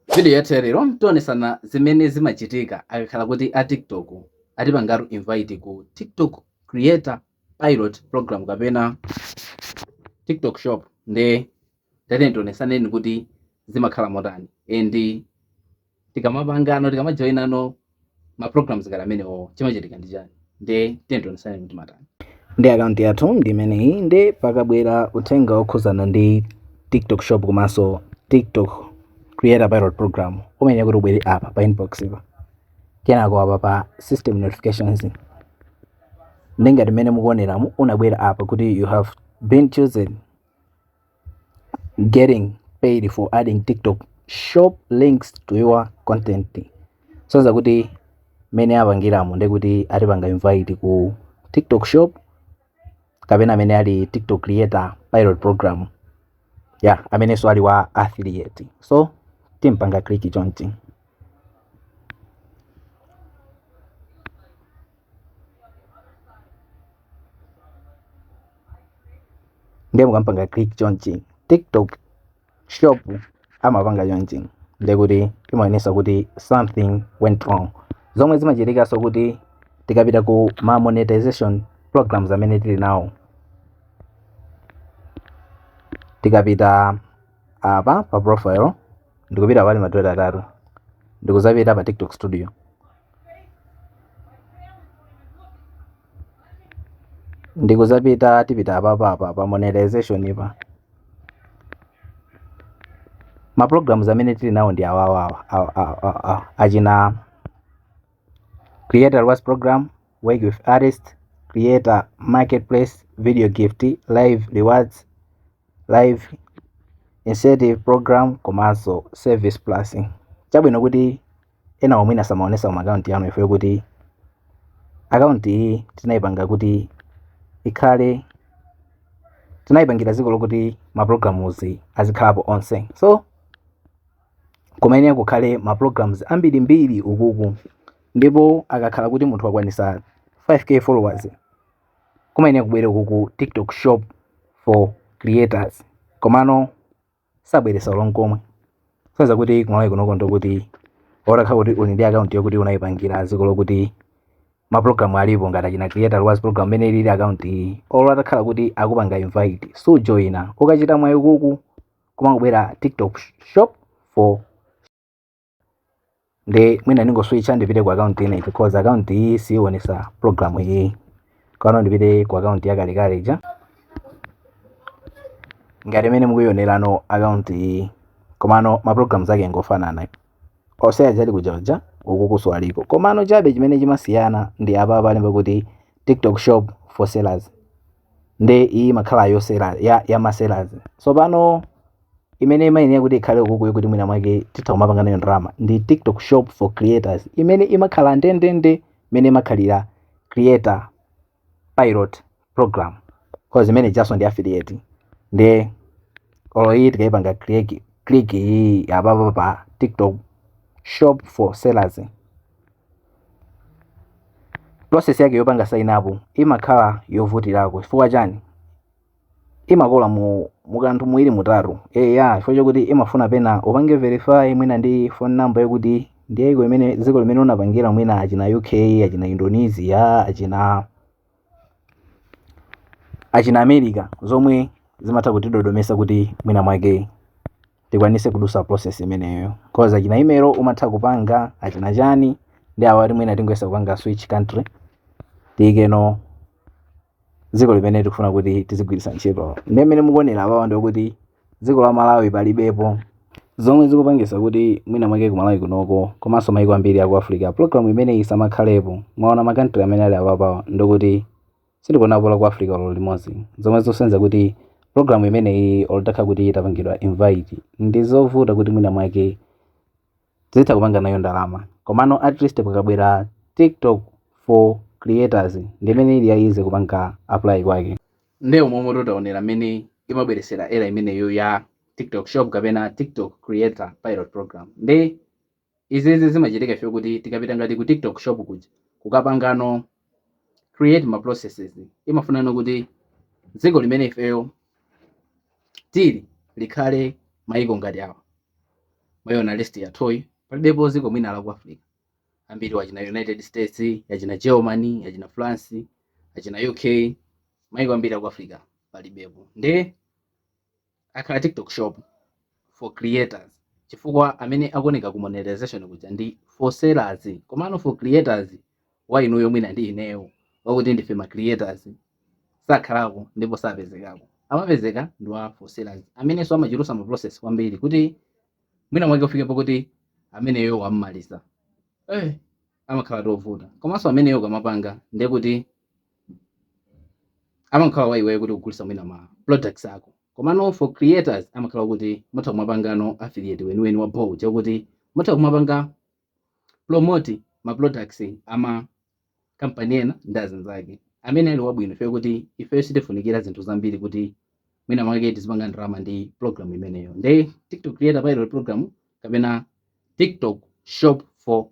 Vidiyo yathu ya lero tionesana zimene zimachitika akakhala kuti a TikTok atipangatu invite ku TikTok Creator Pilot Program kapena TikTok Shop nde tatiyeni tionesaneni kuti zimakhala motani and tikamapangano tikamajoinano ma programs ngati amenewo chimachitika ndi chani nde tationesane kuti imatani ndi akaunti yathu ndi imeneyi nde pakabwera uthenga wokhuzana ndi tiktok shop komanso tiktok creator pilot program umayenera kuti ubwere apa pa inbox pa kenako apa pa system notifications nde ngati mmene mukuoneramu unabwera apa kuti you have been chosen getting paid for adding tiktok shop links to your content kusonyeza kuti mene apangiramo ndekuti atipanga invite ku tiktok shop kapena amene ali tiktok creator pilot program ya amenenso ali wa affiliate so timapanga click chonchi ndiye mukamapanga click chonchi tiktok shop amapanga chonchi ndiye kuti imaonesa kuti something went wrong zomwe zimachitikaso kuti tikapita ku ma monetization programs amene tili nawo tikapita apa pa profile ndikupita pali madraiva atatu ndikuzapita pa tiktok studio Ndikudzapita tipita apapa apa pa monetization pa. Ma programs amene tili nawo ndi awawa achina creator rewards program, work with artist, creator marketplace, video gift, live rewards, live incentive program komanso service plus. Chabwino kuti ena omwe ena samaonesa mu akaunti yanu ifeyo kuti akaunti iyi tinayipanga kuti ikhale tinayipangira dziko lokuti maprograms azikhalapo onse so kumayenera kukhale maprograms ambirimbiri ukuku ndipo akakhala kuti munthu wakwanisa 5k followers kumayenera kubwere ukuku tiktok shop for creators komano sabweresa olo nkomwe kusonyeza kuti kumalawi kunoko ndi kuti olo atakhala kuti uli ndi akaunti yokuti unayipangira dziko lokuti maprogramu alipo ngati achina creator rewards program mmene ilili akaunti iyi olo atakhala kuti akupanga invite sujoyina ukachita mwayi ukuku kumangobwera tiktok shop for nde mwina ndingoswitcha ndipite ku account ina because account iyi siyionesa program iyi kano ndipite ku account yakalekale ija ngati mmene mukuionerano account iyi komano ma programs ake ngofanana onse aja ali kuja kuja ukukuso aliko komano chabe chimene chimasiyana ndi apa palemba kuti tiktok shop for sellers nde iyi imakhala ya ma seller ya ma sellers tsopano imene imayenera kuti ikhale ukukuyo kuti mwina mwake titha kumapanga nayo ndalama ndi tiktok shop for creators imene imakhala ndendende imene imakhalira creator pilot program cause imene ijaso ndi affiliate nde olo iyi tikayipanga click click iyi apapa pa tiktok shop for sellers process yake yopanga sign up imakhala yovutirako chifukwa chani imakola mu mukanthu muwiri mutatu eya chifukwa chakuti imafuna pena upange verify mwina ndi phone number yakuti ndi ya dziko limene dziko limene unapangira mwina achina uk achina indonesia achina achina america zomwe zimatha kutidodomesa kuti mwina mwake tikwanise kudusa process imeneyo cause achina email umatha kupanga achina chani nde awa ati mwina tingoyesa kupanga switch country tiyikeno dziko limene tikufuna kuti tizigwiritsa ntchito nde mmene mukuonera apawa ndikuti dziko la malawi palibepo zomwe zikupangisa kuti mwina mwake ku malawi kunoko komanso maiko ambiri aku africa program imeneyi isamakhalepo mwaona ma country amene ali apapawa ndikuti sindikuonapo la ku africa olo limodzi zomwe zikusonyeza kuti program imeneyi olo utakhala kuti utapangidwa invite ndi zovuta kuti mwina mwake utha kupanga nayo ndalama komano at least pakabwera tiktok for creators ndimene ili ya easy kupanga apply kwake Nde umo momwe taonera mene imabweresera error imeneyo ya TikTok shop kapena TikTok creator pilot program. Nde izizi zimachitika ifeyo kuti tikapita ngati ku TikTok shop kuja kukapangano create ma processes imafunano kuti dziko limene ifeyo tili likhale maiko ngati awa mwaiona list yathuyi palibepo dziko mwina la ku Africa ambiri achina united states achina germany achina france achina uk maiko ambiri aku africa palibepo nde akhala tiktok shop for creators chifukwa amene akuoneka ku monetization kuja ndi for sellers komano for creators wa inuyo mwina ndi ineyo wakuti ndife ma creators sakhalako ndipo sapezekako amapezeka ndi wa for sellers amenenso amachulusa ma process kwambiri kuti mwina mwake ufike pokuti ameneyo wammaliza eh, amakhala tovuta komanso ameneyo ukamapanga ndiye kuti amakhala wa iweyo kuti ukugulitsa mwina ma products ako komano for creators amakhala kuti mutha kumapangano affiliate weniweni wa bho chakuti mutha kumapanga promote ma products ama company ena ndi zina zake amene ali wabwino chifukwa kuti ifeyo sitifunikira zinthu zambiri kuti mwina mwake tizipanga ndalama ndi program imeneyo nde tiktok creator pilot program kapena tiktok shop for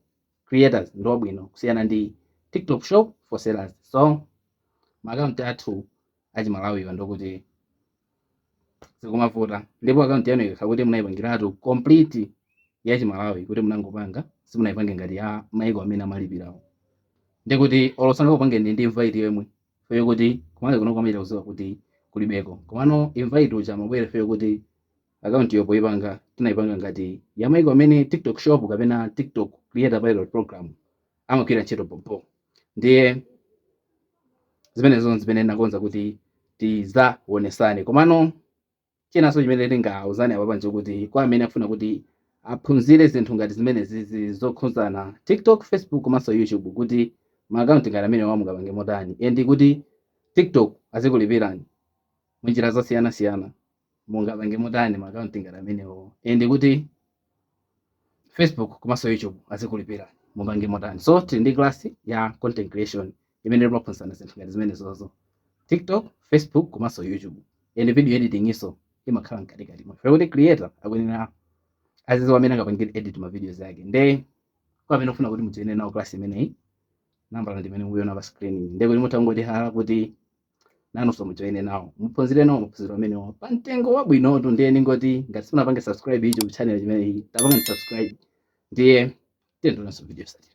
creators ndi wabwino kusiyana ndi tiktok shop for sellers so maakaunti athu achimalawiwa ndokuti zikumavuta ndipo akaunti yanu ikakhala kuti munayipangiratu complete ya chimalawi kuti munangopanga simunayipange ngati ya maiko amene amalipirawo nde kuti olo sangakupangeni invite yemwe ifeyo kuti kumalawi kuno amachita kuziwa kuti kulibeko komano invite uja amabwera ifeyo kuti akaunti yo poipanga tinayipanga ngati ya maiko amene tiktok shop kapena tiktok creator pilot program amagwira ntchito pompo ndiye zimenezo zimene nakonza kuti tizawonesane komano chinanso chimene tingauzane apapa ndi yokuti kwa amene afuna kuti aphunzire zinthu ngati zimenezi zokhuza tiktok facebook komanso youtube kuti maakaunti ngati amenewa mungapange motani and kuti tiktok azikulipirani munjira zosiyanasiyana mungapange motani ma account ngati amenewo and kuti Facebook komanso YouTube azikulipirani mupange motani so tili ndi class ya content creation imene timaphunzitsana zinthu ngati zimenezozo TikTok Facebook komanso YouTube and video editing iyonso imakhala mkatikati mwa kuti creator akuyenera aziziwa mmene angapangire edit ma videos yake nde kwa amene mufuna kuti mujoine nawo class imeneyi nambala ndimene mukuiona pa screen nde kuti mutha kungotihala kuti nanonso mujoine nawo muphunzire nawo maphunziro amenewa pa mtengo wabwinotu ndiye ndingoti ngati simunapange subscribe YouTube channel imeneyi tapangani subscribe ndiye tionananso video yotsatira